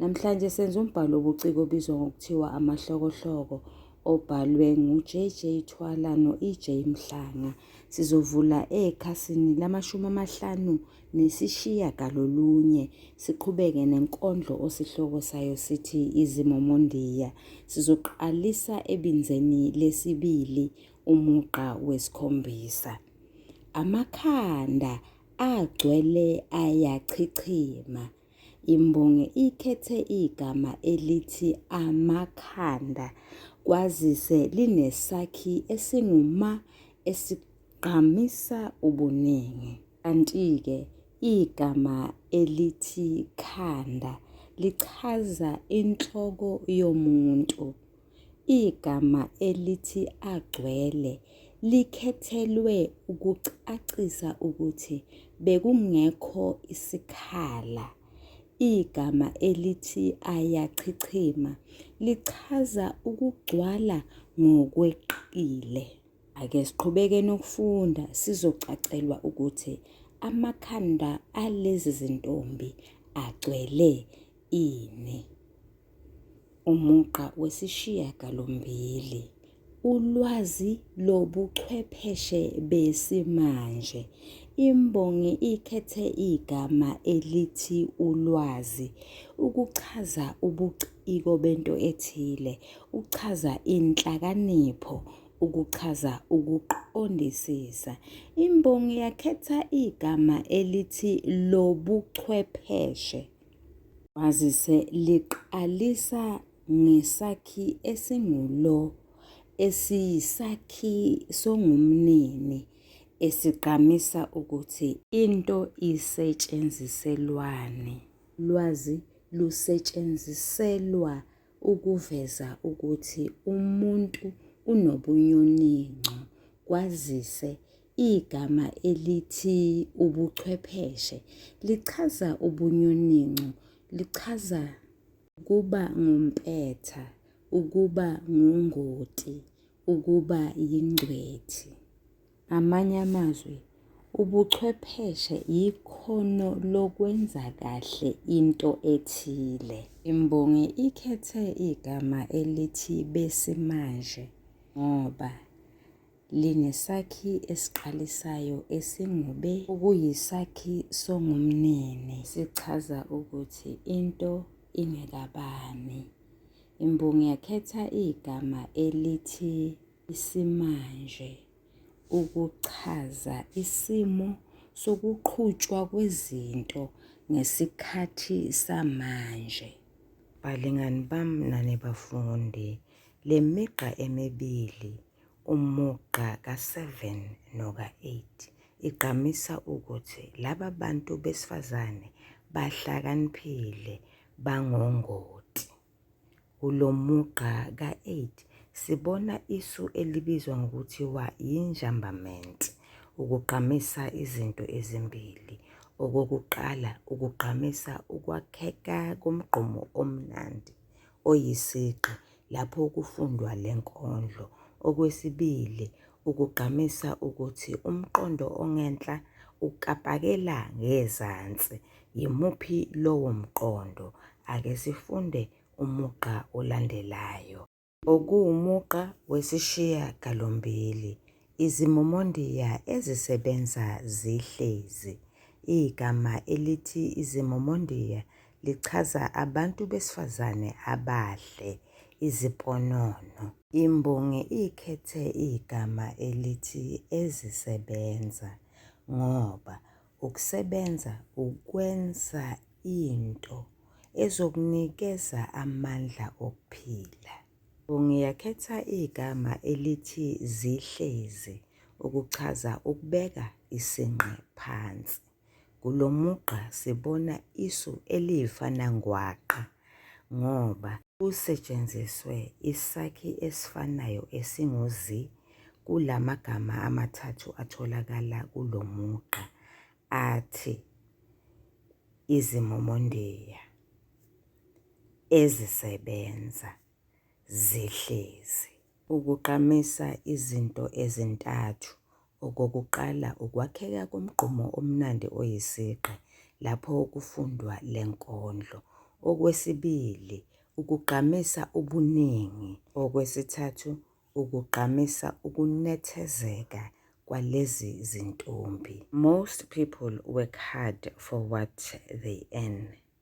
Namhlanje senza umbhalo wobuciko obizwa ngokuthiwa Amahlokohloko obhalwe nguJJ Thwala no-EJ Mhlanga. Sizovula ekhasini lamashumi amahlanu nesishiya galolunye siqhubeke nenkondlo osihloko sayo sithi Izimomondiya. Sizoqalisa ebinzeni lesibili umugqa wesikhombisa. Amakhanda agcwele ayachichima. Imbongi ikhethe igama elithi amakhanda kwazise linesakhi esinguma esigqamisa ubuningi. Kanti-ke igama elithi khanda lichaza inhloko yomuntu. Igama elithi agcwele likhethelwe ukucacisa ukuthi bekungekho isikhala. Igama elithi ayachichima lichaza ukugcwala ngokweqile. Ake siqhubeke nokufunda sizocacelwa ukuthi amakhanda alezi zintombi agcwele Ini. Umugqa wesishiyagalombili ulwazi lobuchwepheshe besimanje. Imbongi ikhethe igama elithi ulwazi ukuchaza ubuciko bento ethile, ukuchaza inhlakanipho, ukuchaza ukuqondisisa. Imbongi yakhetha igama elithi lobuchwepheshe. Kwazise liqalisa ngesakhi esingulo esiyisakhi songumnini esigqamisa ukuthi into isetshenziselwani. Lwazi lusetshenziselwa ukuveza ukuthi umuntu unobunyoninco kwazise Igama elithi ubuchwepheshe lichaza ubunyoninco, lichaza ukuba ngumpetha, ukuba ngungoti, ukuba yingcwethi. Ngamanye amazwi, ubuchwepheshe yikhono lokwenza kahle into ethile. Imbongi ikhethe igama elithi besimanje ngoba linesakhi esiqalisayo esingube okuyisakhi songumnini sichaza ukuthi into ingekabani. Imbongi yakhetha igama elithi isimanje ukuchaza isimo sokuqhutshwa kwezinto ngesikhathi samanje. Balingani bami nani bafundi, le migqa emibili Umugqa ka-7 noka-8 igqamisa ukuthi laba bantu besifazane bahlakaniphile, bangongoti. Kulo mugqa ka-8 sibona isu elibizwa ngokuthiwa yinjambament, ukugqamisa izinto ezimbili. Okokuqala, ukugqamisa ukwakheka komgqomo omnandi, oyisigqi lapho kufundwa le nkondlo. Okwesibili, ukugqamisa ukuthi umqondo ongenhla ukapakela ngezansi. Yimuphi lowo mqondo? Ake sifunde umugqa olandelayo. Okuwumugqa wesishiyagalombili. Izimomondiya ezisebenza zihlezi. Igama elithi izimomondiya lichaza abantu besifazane abahle, iziponono. Imbongi ikhethe igama elithi ezisebenza ngoba ukusebenza ukwenza into ezokunikeza amandla okuphila. Ngiyakhetha igama elithi zihlezi ukuchaza ukubeka isinqe phansi. Kulo mugqa sibona isu eliyifana ngwaqa ngoba kusetshenziswe isakhi esifanayo esinguzi kula magama amathathu atholakala kulo mugqa athi iziMomondiya. ezisebenza zihlezi. Ukugqamisa izinto ezintathu, okokuqala ukwakheka komgqumo omnandi oyisigqi lapho kufundwa le nkondlo. Okwesibili, ukugqamisa ubuningi. Okwesithathu, ukugqamisa ukunethezeka kwalezi zintombi. Most people work hard for what they earn.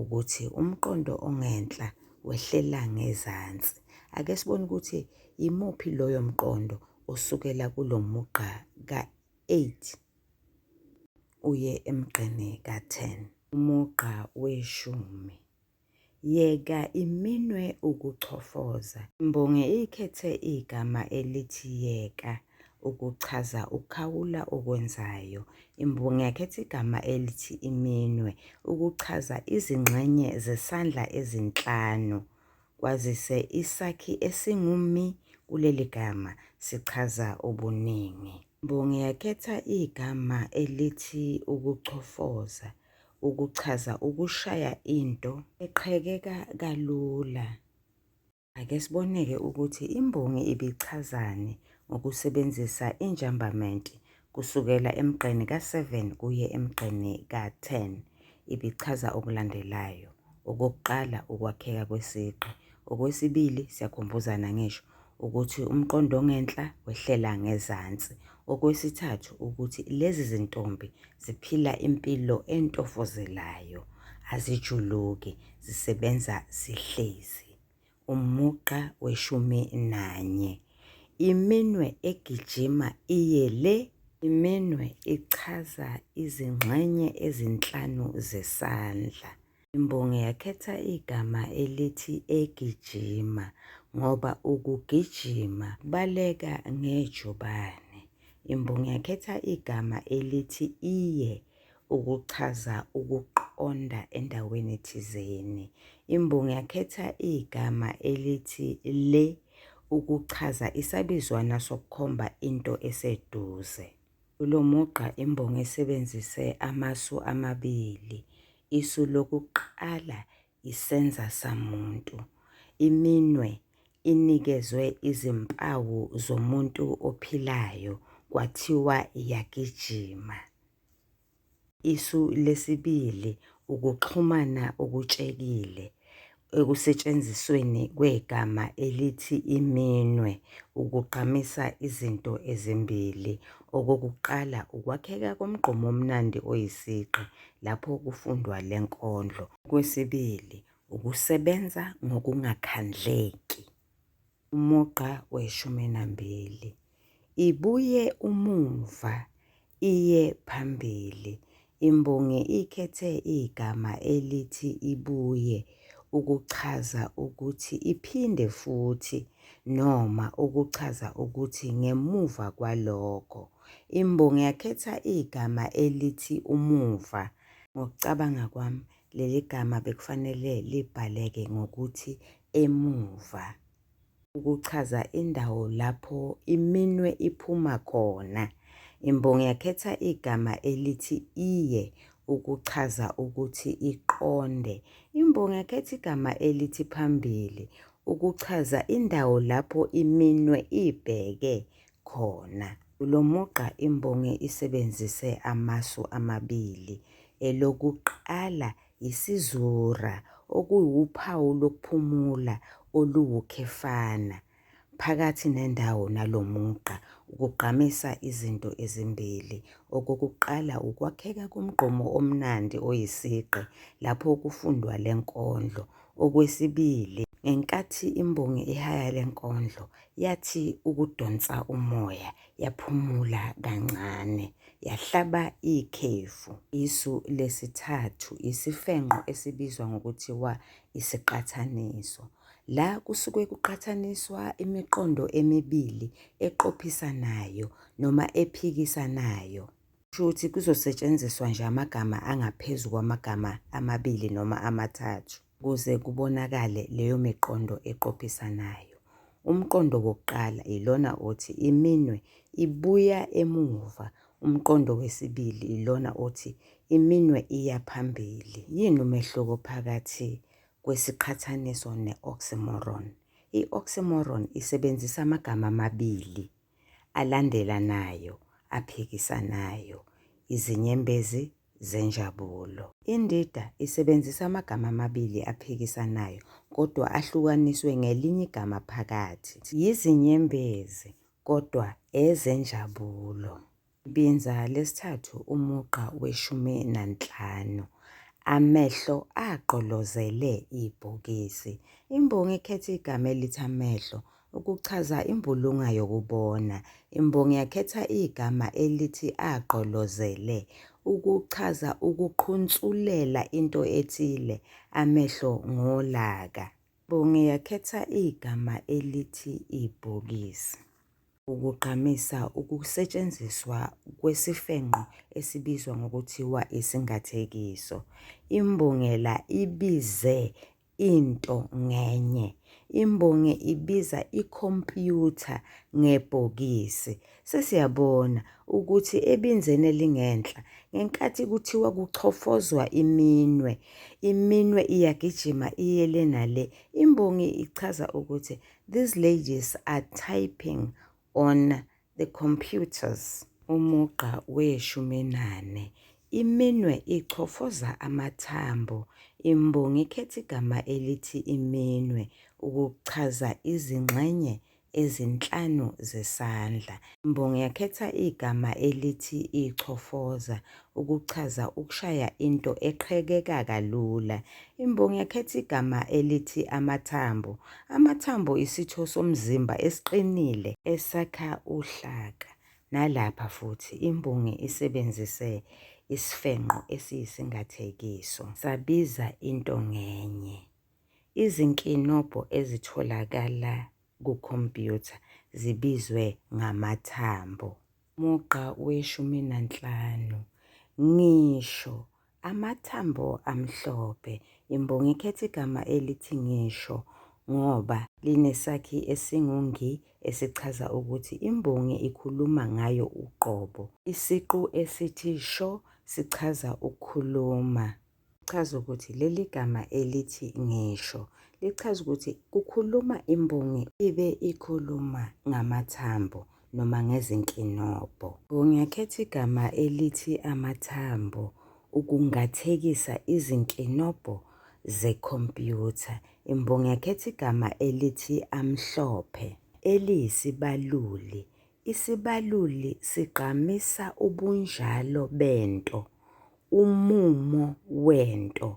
ukuthi umqondo ongenhla wehlela ngezansi. Ake sibone ukuthi yimuphi loyo mqondo osukela kulo mugqa ka-8 uye emgqeni ka-10. Umugqa weshumi. Yeka iminwe ukuchofoza. Imbongi ikhethe igama elithi yeka. ukuchaza ukukhawula okwenzayo. Imbongi yakhetha igama elithi iminwe ukuchaza izingxenye zesandla ezinhlanu kwazise isakhi esingumi kuleli gama sichaza ubuningi. Imbongi yakhetha igama elithi ukuchofoza ukuchaza ukushaya into eqhekeka kalula. Ake siboneke ukuthi imbongi ibichazani ngokusebenzisa injambament kusukela emgqeni ka-7 kuye emgqeni ka-10. Ibichaza okulandelayo. Okokuqala, ukwakheka kwesigqi. Okwesibili, siyakhumbuzana ngisho ukuthi umqondo ongenhla wehlela ngezansi. Okwesithathu, ukuthi lezi zintombi ziphila impilo entofozelayo, azijuluki, zisebenza zihlezi. umugqa weshumi nanye. Iminwe egijima iye le. Iminwe ichaza izingxenye ezinhlanu zesandla. Imbongi yakhetha igama elithi egijima ngoba ukugijima baleka ngejubane. Imbongi yakhetha igama elithi iye. ukuchaza ukuqonda endaweni thizeni. Imbongi yakhetha igama elithi le ukuchaza isabizwana sokukhomba into eseduze. Kulo mugqa imbongi isebenzise amasu amabili. Isu lokuqala isenza samuntu. Iminwe inikezwe izimpawu zomuntu ophilayo kwathiwa iyagijima. Isu lesibili ukuxhumana okutshekile ekusetshenzisweni kwegama elithi iminwe ukugqamisa izinto ezimbili. Okokuqala, ukwakheka komgqomo omnandi oyisigqi, lapho kufundwa le nkondlo. Okwesibili, ukusebenza ngokungakhandleki. Umugqa weshumi nambili. Ibuye umumva, iye phambili. Imbongi ikhethe igama elithi ibuye ukuchaza ukuthi iphinde futhi noma ukuchaza ukuthi ngemuva kwalokho. Imbongi yakhetha igama elithi umuva. Ngokucabanga kwami leli gama bekufanele libhaleke ngokuthi emuva ukuchaza indawo lapho iminwe iphuma khona. Imbongi yakhetha igama elithi iye ukuchaza ukuthi iqonde. Imbongi yakhetha igama elithi phambili ukuchaza indawo lapho iminwe ibheke khona. Kulo mugqa imbongi isebenzise amasu amabili, elokuqala yisizura okuwuphawu lokuphumula oluwukhefana phakathi nendawo nalo mugqa ukugqamisa izinto ezimbili. Okokuqala ukwakheka komgqomo omnandi oyisigqi lapho kufundwa le nkondlo. Okwesibili ngenkathi imbongi ihaya le nkondlo Yathi ukudonsa umoya, yaphumula kancane, yahlaba ikhefu. Isu lesithathu isifenqo esibizwa ngokuthiwa isiqathaniso. La kusuke kuqhathaniswa imiqondo emibili eqophisanayo noma ephikisanayo. Kusho ukuthi kuzosetshenziswa nje amagama angaphezu kwamagama amabili noma amathathu. kuze kubonakale leyo miqondo eqophisanayo. Umqondo wokuqala ilona othi iminwe ibuya emuva, umqondo wesibili ilona othi iminwe iya phambili. Yini umehluko phakathi kwesiqhathaniso ne-oxymoron? I-oxymoron isebenzisa amagama amabili alandelanayo aphikisanayo, izinyembezi zenjabulo. Indida isebenzisa amagama amabili aphikisanayo kodwa ahlukaniswe ngelinye igama phakathi. Yizinyembezi kodwa ezenjabulo. Ibinza lesithathu umugqa weshumi nanhlanu. Amehlo agqolozele ibhokisi. Imbongi ikhetha igama elithi amehlo Ukuchaza imbulunga yokubona, imbongi yakhetha igama elithi agqolozele ukuchaza ukuqhunsulela into ethile, amehlo ngolaka. Imbongi yakhetha igama elithi ibhokisi. Ukugqamisa ukusetshenziswa kwesifenqo esibizwa ngokuthiwa isingathekiso. Imbungela ibize into ngenye. Imbongi ibiza ikhompyutha ngebhokisi. Sesiyabona ukuthi ebinzeni elingenhla, ngenkathi kuthiwa kuchofozwa iminwe, iminwe iyagijima iye le nale. Imbongi ichaza ukuthi these ladies are typing on the computers. Umugqa weshuminane. Iminwe ichofoza amathambo. Imbongi ikhetha igama elithi iminwe ukuchaza izingxenye ezinhlanu zesandla. Imbongi yakhetha igama elithi ichofoza ukuchaza ukushaya into eqhekeka kalula. Imbongi yakhetha igama elithi amathambo. Amathambo isitho somzimba esiqinile esakha uhlaka. Nalapha futhi imbongi isebenzise isifenqo esiyisingathekiso sabiza into ngenye. Izinkinobho ezitholakala kukhompyutha zibizwe ngamathambo. Mugqa weshumi nanhlanu. Ngisho. Amathambo amhlophe. Imbongi ikhetha igama elithi ngisho ngoba linesakhi esingungi esichaza ukuthi imbongi ikhuluma ngayo uqobo. Isiqu esithi sho sichaza ukukhuluma. Chaza ukuthi leli gama elithi ngisho lichaza ukuthi kukhuluma imbongi ibe ikhuluma ngamathambo noma ngezinkinobho. Ngiyakhetha igama elithi amathambo ukungathekisa izinkinobho zekhompyutha. Imbongi yakhetha igama elithi amhlophe eliyisibaluli Isibaluli sigqamisa ubunjalo bento, umumo wento,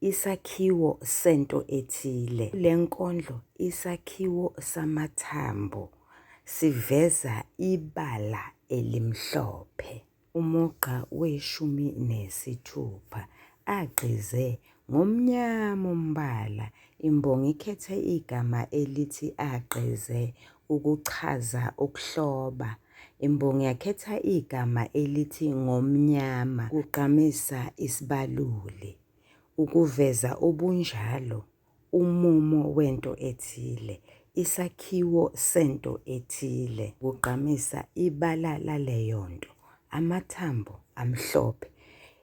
isakhiwo sento ethile. Kule nkondlo isakhiwo samathambo siveza ibala elimhlophe. Umugqa weshumi nesithupha agqize ngomnyama umbala. Imbongi ikhethe igama elithi agqize ukuchaza ukuhloba. Imbongi yakhetha igama elithi ngomnyama kugqamisa isibaluli, ukuveza ubunjalo umumo wento ethile, isakhiwo sento ethile, kugqamisa ibala laleyo nto, amathambo amhlophe,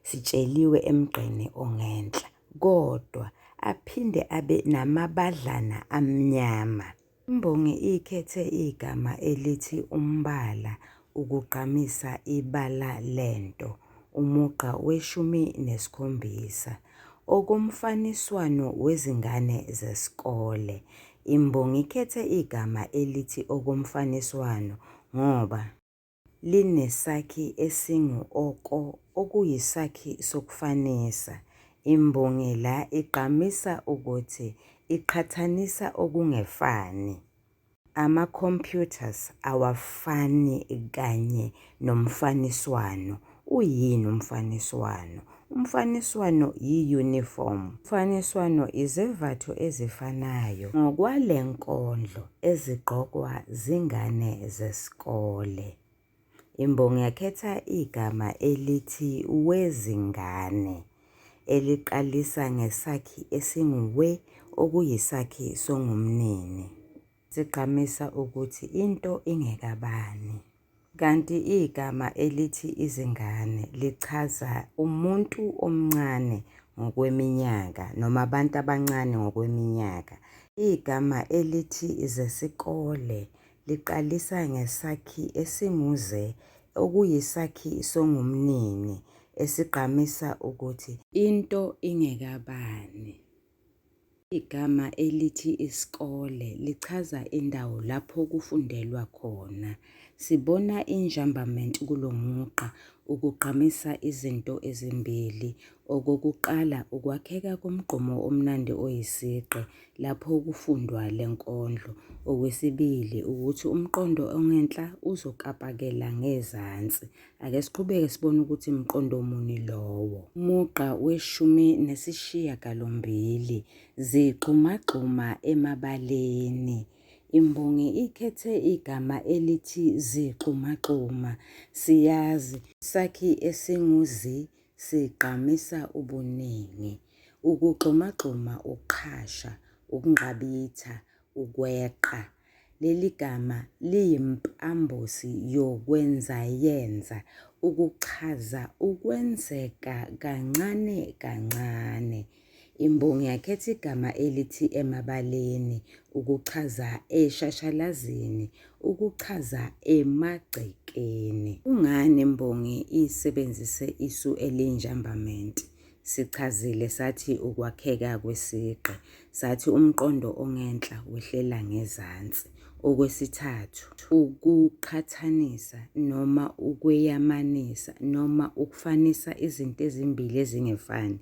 sitsheliwe emgqeni ongenhla, kodwa aphinde abe namabadlana amnyama. Imbongi ikhethe igama elithi umbala ukugqamisa ibala lento, umugqa weshumi nesikhombisa. Okomfaniswano wezingane zesikole, imbongi ikhethe igama elithi okomfaniswano ngoba. linesakhi esingu-oko okuyisakhi sokufanisa. Imbongi la igqamisa ukuthi iqhathanisa okungefani. Ama-computers awafani kanye nomfaniswano Uyini umfaniswano? Umfaniswano yi-uniform. Umfaniswano izembatho ezifanayo ngokwale nkondlo ezigqokwa zingane zesikole. Imbongi yakhetha igama elithi wezingane eliqalisa ngesakhi esinguwe okuyisakhi songumnini. zigqamisa ukuthi into ingekabani. Kanti igama elithi izingane lichaza umuntu omncane ngokweminyaka noma abantu abancane ngokweminyaka. Igama elithi zesikole liqalisa ngesakhi esinguze okuyisakhi songumnini esigqamisa ukuthi into ingekabani. Igama elithi isikole lichaza indawo lapho kufundelwa khona. Sibona i-njambament kulo mugqa ukugqamisa izinto ezimbili. Okokuqala, ukwakheka komgqomo omnandi oyisigqi lapho kufundwa le nkondlo. Okwesibili, ukuthi umqondo ongenhla uzokapakela ngezansi. Ake siqhubeke sibone ukuthi mqondo muni lowo. Umugqa weshumi nesishiyagalombili zigxumagxuma emabaleni. Imbongi ikhethe igama elithi zigxumagxuma. Siyazi sakhi esinguzi sigqamisa ubuningi. Ukugxumagxuma ukuqhasha, ukunqabitha, Ukweqa. Leli gama liyimpambosi yokwenzayenza ukuchaza ukwenzeka kancane kancane. Imbongi yakhetha igama elithi emabaleni ukuchaza eshashalazini, ukuchaza emagcekeni. Kungani imbongi isebenzise isu elinjambamenti? Sichazile sathi ukwakheka kwesigqi, sathi umqondo ongenhla wehlela ngezansi. Okwesithathu, ukuqhathanisa noma ukweyamanisa noma ukufanisa izinto ezimbili ezingefani,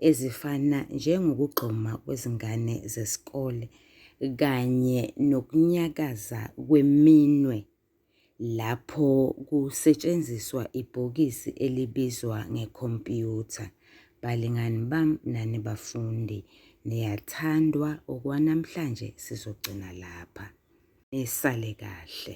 ezifana njengokugxuma kwezingane zesikole kanye nokunyakaza kweminwe lapho kusetshenziswa ibhokisi elibizwa ngekhompyutha. Balingani bam nani bafundi, niyathandwa okwanamhlanje sizogcina lapha. Nisale kahle.